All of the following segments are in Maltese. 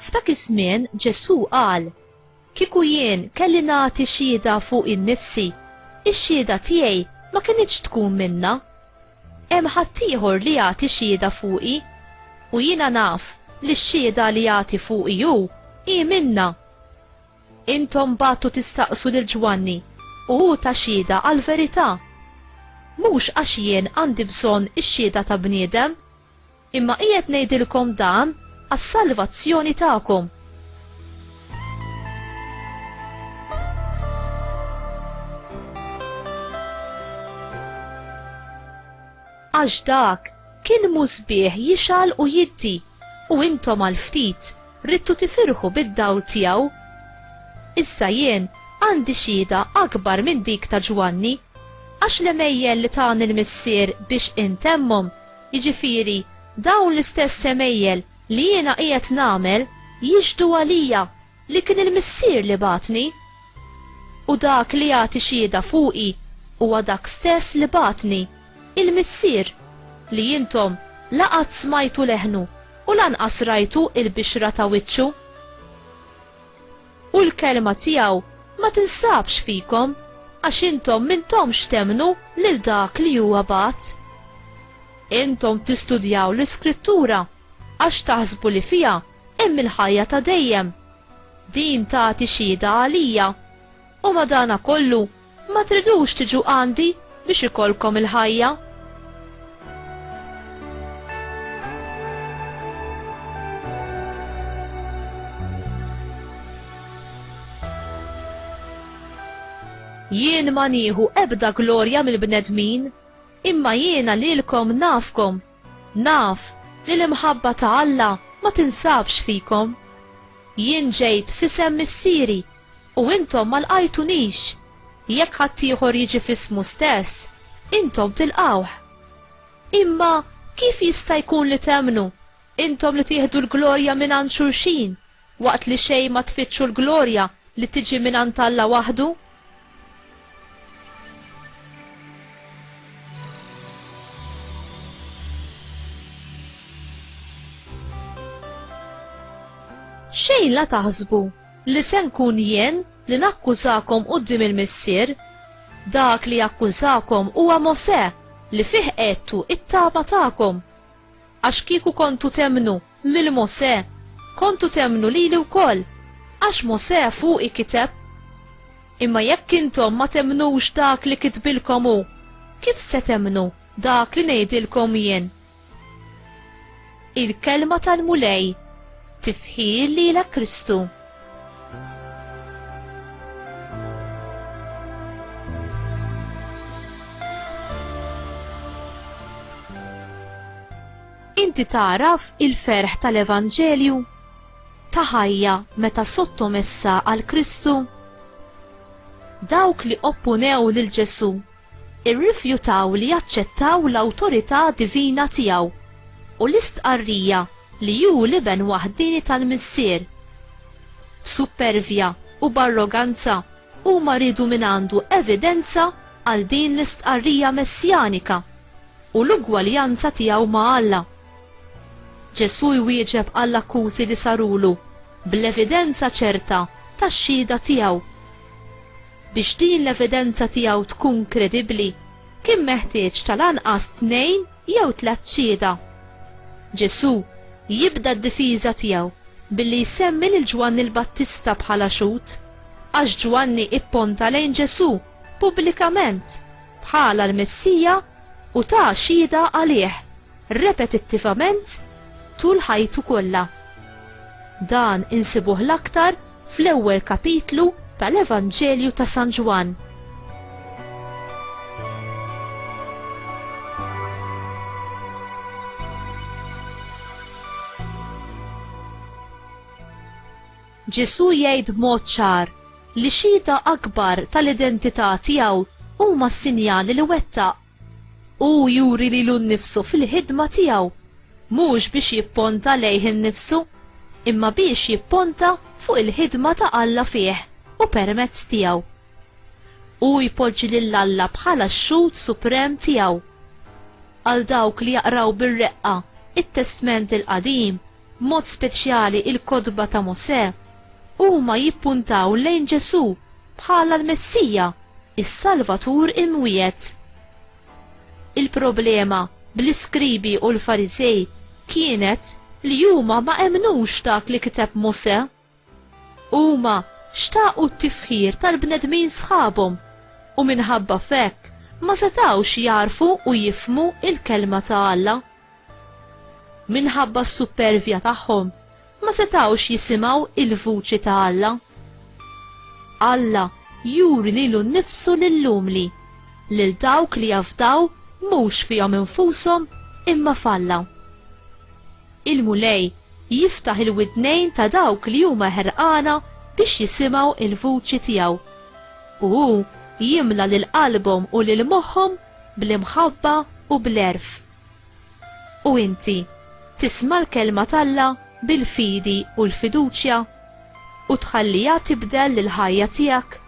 F'dak iż-żmien Ġesù qal, Kieku jien kelli nagħti xhieda fuq in-nifsi, ix-xhieda tiegħi ma kinitx tkun minna. Hemm ħaddieħor li jagħti xhieda fuqi, u jiena naf li x-xhieda li jagħti fuqi hu hi minna Intom bagħtu tistaqsu lil Ġwanni u hu ta xhieda għall-verità. Mhux għax jien għandi bżonn ix-xhieda ta' bniedem, imma qiegħed ngħidilkom dan għas-salvazzjoni tagħkom. Għax dak kien musbieħ jixgħal u jiddi, u intom għal ftit ridtu tifirħu bid-dawl tiegħu. Issa jien għandi xhieda akbar minn dik ta' Ġwanni, għax l-għemejjel li tani l-Missier biex intemmhom, jiġifieri dawn l-istess għemejjel li jiena qiegħed nagħmel, jixhdu għalija li kien il-Missier li bagħatni, u dak li jagħti xhieda fuqi huwa dak stess li bagħatni, il-Missier, li intom la qatt smajtu leħnu u lanqas rajtu l-bixra ta' wiċċu. U l-kelma tiegħu ma tinsabx fikom, għax intom m'intomx temmnu lil dak li huwa bagħat. Intom tistudjaw l-Iskrittura għax taħsbu li fiha Hemm il-ħajja ta' dejjem. Din tagħti xhieda għalija. U madanakollu, ma tridux tiġu għandi biex ikollkom il-ħajja. Jien ma nieħu ebda glorja mill-bnedmin, imma jiena lilkom nafkom Naf li l-imħabba ta' Alla ma tinsabx fikom. Jien ġejt f'isem Missieri, u intom ma lqajtunix, jekk ħaddieħor jiġi f'ismu stess, intom tilqgħuh. Imma kif jista' jkun li temmnu, intom li tieħdu l-glorja mingħand xulxin, Waqt li xejn ma tfittxu l-glorja li tiġi mingħand Alla waħdu? Xejn la taħsbu li se nkun jien li nakkużakom quddiem il-Missier. Dak li jakkużakom huwa Mosè li fih għedtu it-tama tagħkom. Għax kieku kontu temmnu lil Mosè, Kontu temmnu lili wkoll, għax Mosè fuqi kiteb. Imma jekk intom ma temmnux dak li kitbilkom hu, kif se temmnu dak li ngħidilkom jien? Il-Kelma tal-Mulej, Tifħir lilek Kristu. Inti tagħraf il-ferħ tal-evanġelju ta' ħajja meta sottomessa għal Kristu? Dawk li opponew lil Ġesù irrifjutaw li jaċċettaw l-awtorità divina tiegħu u l-istqarrija li hu l-Iben waħdieni tal-Missier. B'suppervja u b'arroganza Huma riedu mingħandu evidenza għal din l-istqarrija messjanika u l-ugwaljanza tiegħu ma' Alla. Ġesù jwieġeb għall-akkużi li sarulu bl-evidenza ċerta tax-xhieda tiegħu. Biex din l-evidenza tiegħu tkun kredibbli, kien meħtieġ tal-anqas tnejn jew tliet xhieda. Ġesù jibda d-difiża tiegħu billi jsemmi lil Ġwanni l-Battista bħala xhud, għax Ġwanni ipponta lejn Ġesù pubblikament bħala l-Messija u ta xhieda għalih repetittivament tul ħajtu kollha. Dan insibuh l-aktar fl-ewwel kapitlu tal-Evanġelju ta' San Ġwann. Ġesu jgħid b'mod ċar li xhieda akbar tal-identità tiegħu huma s-sinjali li wettaq Hu juri lilu nnifsu fil-ħidma tiegħu, mhux biex jipponta lejh innifsu, imma biex jipponta fuq il-ħidma ta' Alla fih u permezz tiegħu. Hu jpoġġi lil Alla bħala x-Xhud Suprem tiegħu. Għal dawk li jaqraw bir-reqqa t-Testment il-Qadim, b'mod speċjali il-kotba ta' Mosè, huma jippuntaw lejn Ġesù bħala l-Messija, is-Salvatur imwiegħed. Il-problema bl-iskribi u l-Fariżej kienet li huma ma emmnux dak li kiteb Mosè. Huma xtaqu t-tifħir tal-bnedmin sħabhom u minħabba f'hekk ma setgħux jagħrfu u jifhmu l-Kelma ta' Alla. Minħabba s-suppervja tagħhom ma setgħux jisimgħu l-vuċi ta' Alla. Alla juri lilu nnifsu lill-umli, lil dawk li jafdaw mhux fihom infushom imma f'Alla. Il-Mulej jiftaħ il-widnejn ta' dawk li huma ħerqana biex jisimgħu l-vuċi tiegħu, u hu jimla lil qalbhom u lil moħħhom bl-imħabba u bl-għerf. U inti, tisma' l-kelma t'Alla bil-fidi u l-fiduċja, u tħalliha tibdel lill-ħajja tiegħek?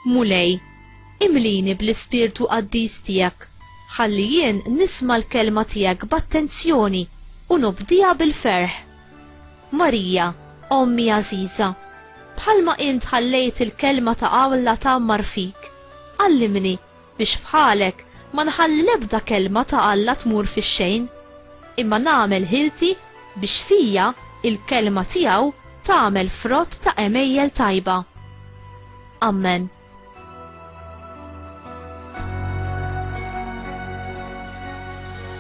Mulej, imlini bl-ispirtu qaddis tiegħek, ħalli jien nisma' l-kelma tiegħek b'attenzjoni u nobdiha bil-ferħ. Marija, ommi għażiża, bħalma int ħallejt il-kelma ta' Alla tgħammar fik, għallimni biex f'ħalek ma nħalli l-ebda kelma ta' Alla tmur fix-xejn, imma nagħmel ħilti biex fija l-kelma tiegħu tagħmel frott ta' għemejjel tajba. Ammen.